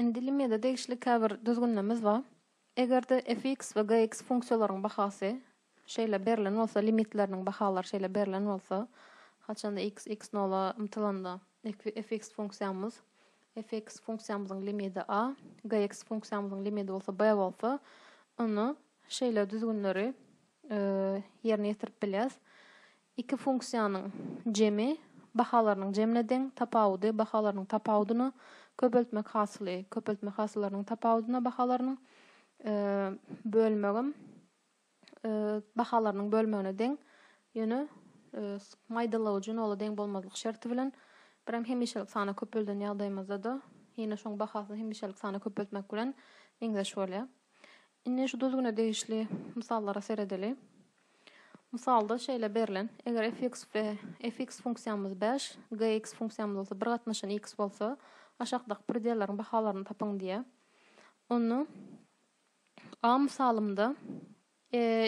Indi limiýada degişli käbir düzgünlemz bar. Eger-de fx we gx funksiýalaryň bahasy şeýle berlen bolsa, limitleriniň bahalary şeýle berlen bolsa, haçanda x, x nola ymtylanda, fx funksiýamyz, fx funksiýamyzyň limidi a, gx funksiýamyzyň limidi bolsa b bolsa, onda şeýle düzgünleri ýerine ýetirip bilýäs. Iki funksiýanyň jemi bahalarynyň jemine deň, tapawudy bahalarynyň tapawudyna, köpeltmek hasyly köpeltmek hasyllarynyň tapawudyna bahalarynyň bölmegem bahalarynyň bölmegine deň, ýöne maýdalawujy nola deň bolmazlyk şerti bilen, birem hemişelik sana köpelden ýagdaýymyzda-da ýene şoň bahasyny hemişelik sana köpeltmek bilen meňzeş bolýar. Indi şu düzgüne degişli mysallara seredeli. Mysalda şeýle berlen, eger fx we fx funksiýamyz bäş, gyx funksiýamyz bolsa bir gatnaşan x bolsa, aşakdaky predelleriň bahalaryny tapyň diýýär. Onda A mysalymda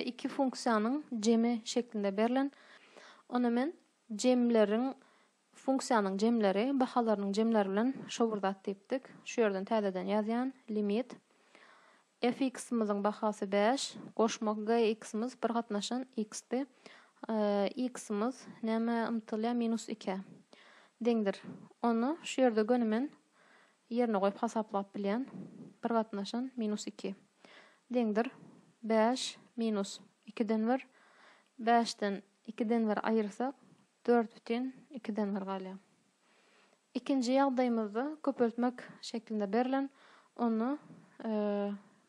iki funksiýanyň jemi şeklinde berlen. Onda men jemleriň Funksiýanyň jemleri bahalarynyň jemleri bilen şo bir zat diýipdik. Şu ýerden täzeden ýazýan, limit, fx-myzyň bahasy bäş, goşmak gyx-myz bir gatnaşan x-di, x-myz nämä ymtylýar, minus ikä deňdir. Ony şu ýerde göni men ýerine goýup hasaplap bilýän, bir gatnaşan minus iki deňdir, bäş minus ikiden bir, bäşden ikiden bir aýyrsak, Dört bütin iki den bir galýar. Ikinji ýagdaýymyzda köpeltmek şeklinde berlen, onda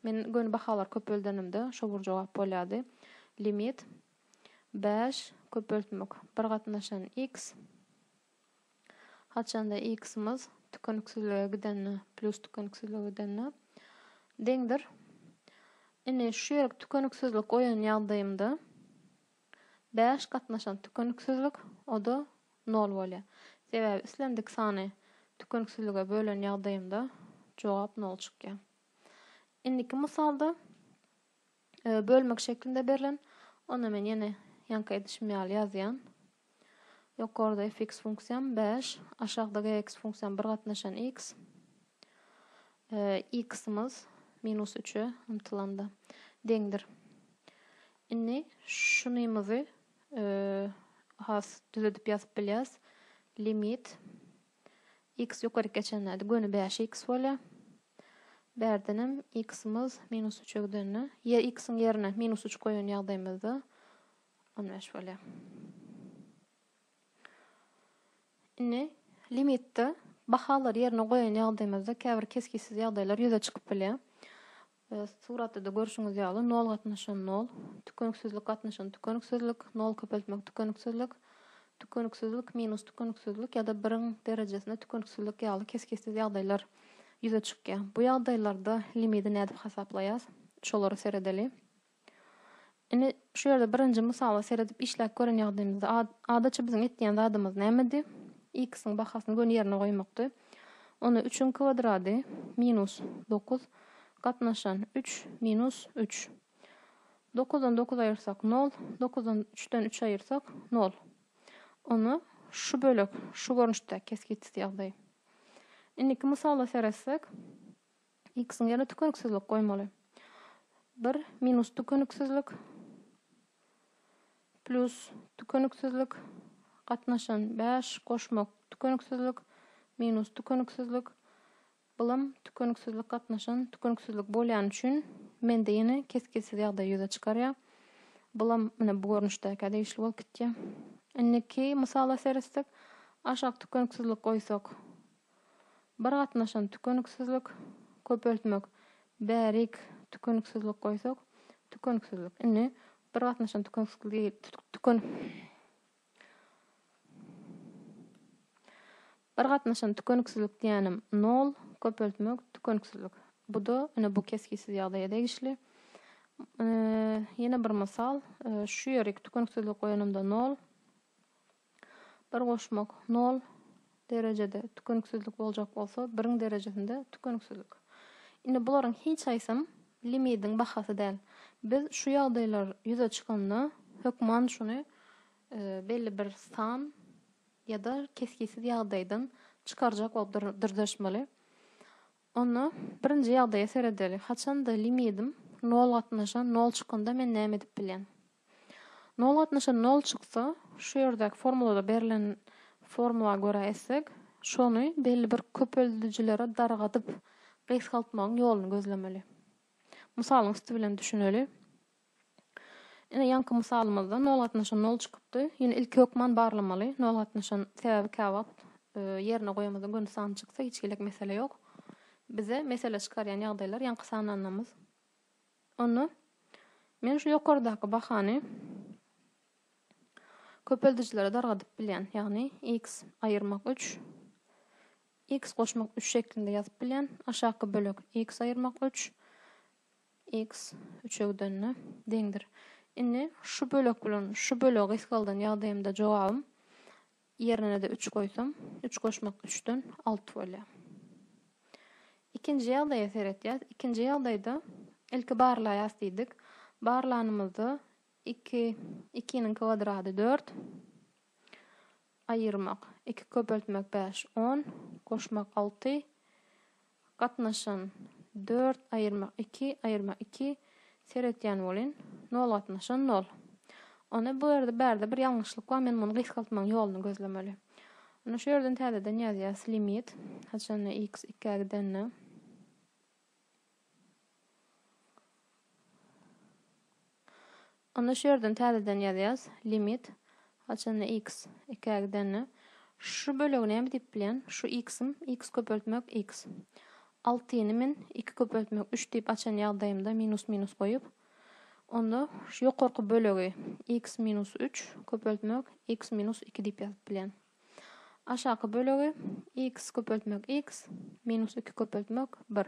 men göni bahalar köpeldenimde şo bir jogap bolýardy. Limit bäş köpeltmek bir gatnaşan x, haçanda x-imiz tükeniksizlige gidende, pljus tükeniksizlige gidende, deňdir. Indi şu ýerik tükeniksizlik goýan ýagdaýymda. Bäş gatnaşan tükeniksizlik, o-da nol bolýar. Sebäbi islendik sany tükeniksizlige bölen ýagdaýymda jogap nol çykýar. Indiki mysalda bölmek şeklinde berlen, onda men ýene ýanka edişim ýaly ýazýan. Ýokarda fx funksiýam bäş, aşakda gx funksiýam bir gatnaşan x. X-imiz minus üçe ymtylanda deňdir. Indi şunymyzy has düzedip ýazyp bilýäs. Limit x ýokaryk geçenlerde göni bäş x bolýar. Bärdenem x-imiz minus üçe gidende, ýa x-iň ýerine minus üç goýan ýagdaýymyzda on bäş bolýar. Indi limitde bahalary ýerine goýan ýagdaýymyzda käbir kesgitsiz ýagdaýlar ýüze çykyp bilýär. Suratda-da görşüňiz ýaly, nol gatnaşan nol, tükeniksizlik gatnaşan tükeniksizlik, nol köpeltmek tükeniksizlik, tükeniksizlik minus tükeniksizlik ýa-da biriň derejesine tükeniksizlik ýaly kesgitsiz ýagdaýlar ýüze çykýar. Bu ýagdaýlarda limidi nädip hasaplaýas? Şolara seredeli. Indi şu ýerde birinji mysala seredip işläp gören ýagdaýymyzda adaça biziň etýän zadymyz nämedi? X-iň bahasyny göni ýerine goýmakdy. Onda üçüň kwadrady minus dokuz gatnaşan üç minus üç. Dokuzdan dokuz aýyrsak nol, dokuzdan üçden üç aýyrsak nol. Onda şu bölek şu görnüşde kesgitsiz ýagdaý. Indiki mysala seretsek, X-iň ýerine tükeniksizlik goýmaly. Bir minus tükeniksizlik plýus tükeniksizlik gatnaşan bäş goşmak tükeniksizlik minus tükeniksizlik bylam tükeniksizlik gatnaşan tükeniksizlik bolýany üçin mende ýene kesgitsiz ýagdaý ýüze çykarýar. Bylam ine bu görnüşdäkä degişli bolup gitýär. Indiki mysala seretsek, aşak tükeniksizlik goýsak Bir gatnaşan tükeniksizlik, köpeltmek, bärik tükeniksizlik goýsak, tükeniksizlik. Indi bir gatnaşan tükeniksizlik Bir gatnaşan tükeniksizlik diýýänim nol, köpeltmek, tükeniksizlik. Bu-da ine bu kesgitsiz ýagdaýa degişli. Ýene bir mysal, şu ýerik tükeniksizlik goýanymda nol, Bir goşmak, nol, derejede tükeniksizlik boljak bolsa, biriň derejesinde tükeniksizlik. Indi bularyň hiç haýsam limidiň bahasy däl. Biz şu ýagdaýlar ýüze çykanda, hökman şuny belli bir san ýa-da kesgitsiz ýagdaýdan çykarjak bolup dyrjaşmaly. Onda birinji ýagdaýa seredeli. Haçanda limidim nol gatnaşan nol çykanda men näme edip bilýän? Nol gatnaşan nol çyksa, şu ýerdäki formulada berlen formula görä etsek, şony belli bir köpeldijilere dargadyp gysgaltmagyň ýoluny gözlemeli. Mysalyň üsti bilen düşüneli. Ine, ýaňky mysalymyzda nol gatnaşan nol çykypdy. Ýöne ilki hökman barlamaly. Nol gatnaşan sebäbi käwagt ýerine goýamyzda gönüs san çyksa hiç hili mesele ýok. Bize mesele çykarýan ýagdaýlar ýaňky sananymyz. Onda men şu ýokardaky bahany köpeldijilere dargadyp bilýän. Ýagny x aýyrmak üç, x goşmak üç şeklinde ýazyp bilýän. Aşaky bölek x aýyrmak üç, X üçegdende deňdir. Indi şu bölek bilen şu bölegi gysgaldan ýagdaýymda jogabym ýerinede üç goýsam, üç goşmak üçden alty bolýar. Ikinji ýagdaýa seretýäs. Ikinji ýagdaýda ilki barlaýas diýdik. Barlanymyzda iki, ikiniň kwadratydört. Aýyrmak, iki köpeltmek bäş, on, goşmak alty, gatnaşan dört, aýyrmak iki, aýyrmak iki, seretýän bolyn, nol gatnaşan nol. Onda bu ýerde bärde bir ýalňyşlyk bar, men muny gysgaltmagyň ýoluny gözlemeli. Onda şu ýerden täzeden ýazýas limit, haçanda x ikä gidende. Onda şu ýerden täzeden ýazýas, limit, haçanda x ikä gidende, şu bölegi näme diýip bilýän, şu x-im, x köpeltmek x. Altyny men iki köpeltmek üç diýip açan ýagdaýymda minus minus goýup, onda şu ýokarky bölegi x minus üç köpeltmek x minus iki diýip ýazyp bilýän. Aşaky bölegi, x köpeltmek x, minus iki köpeltmek bir.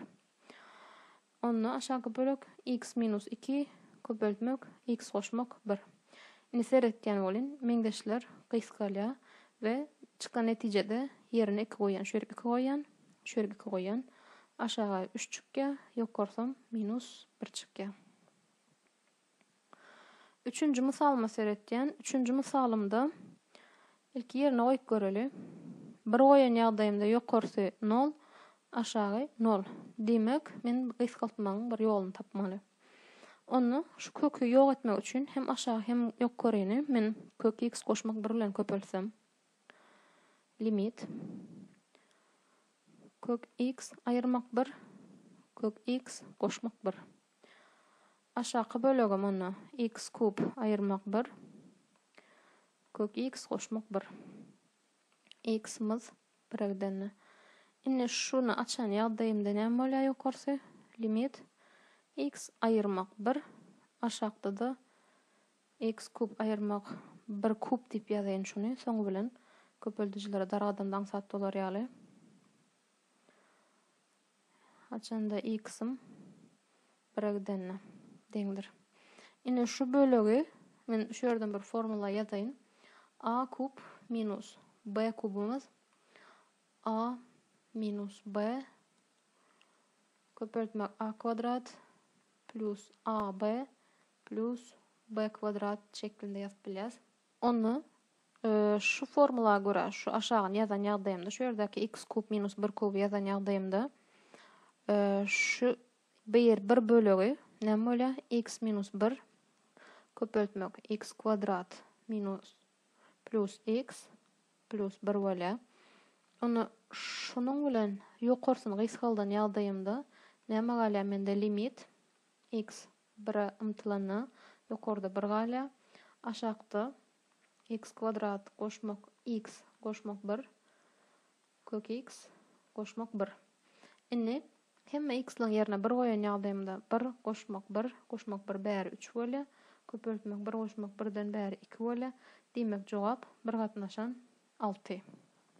Onda aşaky bölek, x minus iki, köpeltmek, x goşmak bir. Indi seretýän bolyn, meňzeşler gysgalýar we çykan netijede ýerine iki goýýan, şu ýerik iki goýýan, şu ýerik iki goýýan, aşaga üç çykýar, ýokarsam minus bir çykýar. Üçünji mysalyma seretýän. Üçünji mysalymda ilki ýerine goýup göreli. Bir goýan ýagdaýymda ýokarsy nol, aşagy nol. Diýmek, men gysgaltmagyň bir ýoluny tapmaly. Onda şu köki ýok etmek üçin hem aşagy hem ýokaryny men kök x goşmak bir bilen köpeltsem. Limit. Kök x aýyrmak bir, kök x goşmak bir. Aşaky bölegem onda x kub aýyrmak bir, kök x goşmak bir. X mys bire gidende. Indi şuny açan ýagdaýymda näme bolýar ýokarsy? Limit x aýyrmak bir, aşakda-da x kub aýyrmak bir kub diýip ýazaýyn şuny, soňy bilen köpeldijilere dargadanda aňsat bolar ýaly. Haçanda x-im bire gidende deňdir. Ine şu bölegi men şu ýerden bir formula ýazaýyn. A kub minus b kubumyz a minus b köpeltmek a kwadrat plus ab plus b kwadrat şeklinde ýazyp bilýäs. Onda şu formula görä, şu aşagyny ýazan ýagdaýymda, şu ýerdäki x kub minus bir kuby ýazan ýagdaýymda, şu bir bir bölegi näme bolýar? x minus bir köpeltmek x kwadrat minus plus x plus bir bolýar. Onda şunuň bilen ýokarsyny gysgaldan ýagdaýymda näme galýar mende limit x Bire ymtylanda, ýokarda bir galýar. Aşakda x kwadrat goşmak x goşmak bir, kök x goşmak bir. Indi hemme x-laň ýerine bir goýan ýagdaýymda bir goşmak bir goşmak bir bäri üç bolýar. Köpeltmek bir goşmak birden bäri iki bolýar. Diýmek, jogap bir gatnaşan alty.